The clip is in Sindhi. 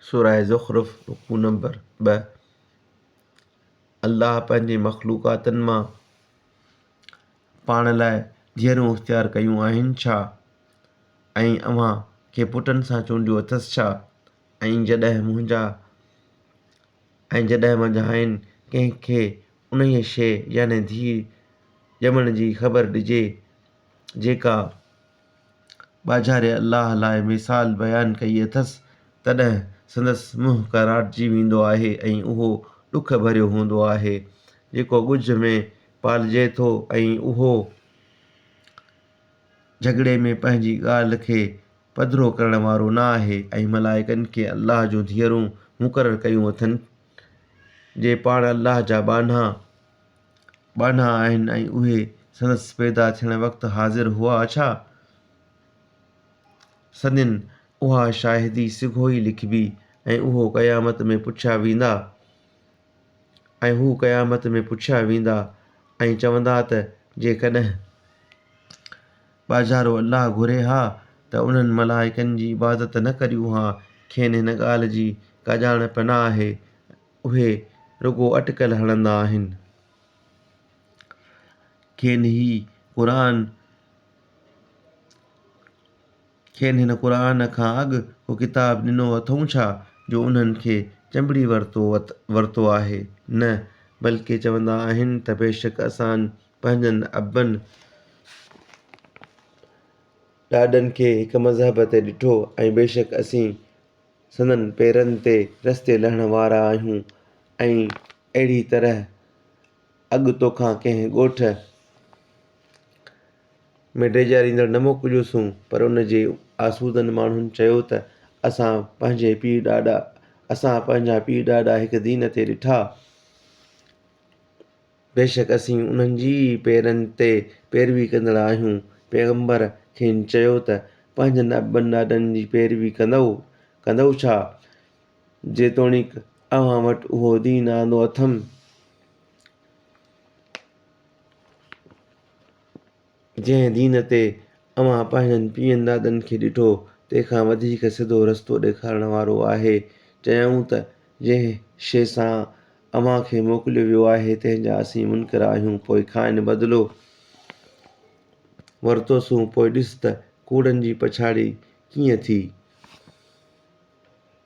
سوره زخرف، رڪوع نمبر ٻه، الله پنهنجي مخلوقاتن مان پاڻ لاء ڌيئرون اختيار ڪيون آهن ڇا؟ ۽ اوهان کي پٽن سان چونڊيو اٿس ڇا؟ ۽ جڏهن منهنجا ۽ جڏهن منجهانئن ڪنهن کي انهيء شيء يعني ڌيء ڄمڻ جي خبر ڏجي جيڪا ٻاجهاري الله لاء مثال بيان ڪئي اٿس، تڏهن سندس منهن ڪراٽجي ويندو آهي ۽ اهو ڏک ڀريو هوندو آهي، جيڪو ڳجهه ۾ پالجي ٿو ۽ اهو جهڳڙي ۾ پنهنجي ڳالهه کي پڌرو ڪرڻ وارو نه آهي ۽ ملائڪن کي الله جون ڌيئرون مقرر ڪيون اٿن، جي پاڻ الله جا ٻانها. ٻانها آهن ۽ اهي سندس پيدا ٿيڻ وقت حاضر هئا ڇا؟ سندين اها شاهدي سگهو ئي لکبي ۽ اهو قيامت ۾ پڇيا ويندا ۽ هو قيامت ۾ پڇيا ويندا ۽ چوندا ته جيڪڏهن ٻاجهارو الله گهري ها ته انهن ملائڪن جي عبادت نه ڪريون ها کين هن ڳالهه جي ڪا ڄاڻ پڻ آهي اهي رڳو اٽڪل هڻندا آهن. کين هي قرآن کين هن قرآن کان اڳ ڪو ڪتاب ڏنو اٿئون ڇا جو انهن کي چنبڙي ورتو ورتو آهي؟ نه بلڪه چوندا آهن ته بيشڪ اسان پنهنجن ابن ڏاڏن کي هڪ مذهب تي ڏٺو ۽ بيشڪ اسين سندن پيرن تي رستي لهڻ وارا آهيون ۽ اهڙي طرح اڳ توکان ڪنهن ڳوٺ ۾ ڊيڄاريندڙ نه موڪليوسون پر ان جي آسودن ماڻهن چيو ته اسان پنهنجي پيء ڏاڏا اسان پنهنجا پيء ڏاڏا هڪ دين تي ڏٺا بيشڪ اسين انهن جي ئي پيرن تي پيروي ڪندڙ آهيون، پيغمبر کين چيو ته پنهنجن ابن ڏاڏن جي پيروي ڪندؤ، ڪندؤ ڇا؟ جيتوڻيڪ اوهان وٽ اهو دين آندو اٿم. جنهن دين تي اوهان پنهنجن پيئن دادن کي ڏٺو، تنهن کان وڌيڪ سڌو رستو ڏيکارڻ وارو آهي. چيائون ته، جنهن شيء سان اوهان کي موڪليو ويو آهي، تنهن جا اسين منڪر آهيون. پوء کانئن بدلو ورتوسون، پوء ڏس ته ڪوڙن جي پڇاڙي ڪيئن ٿي.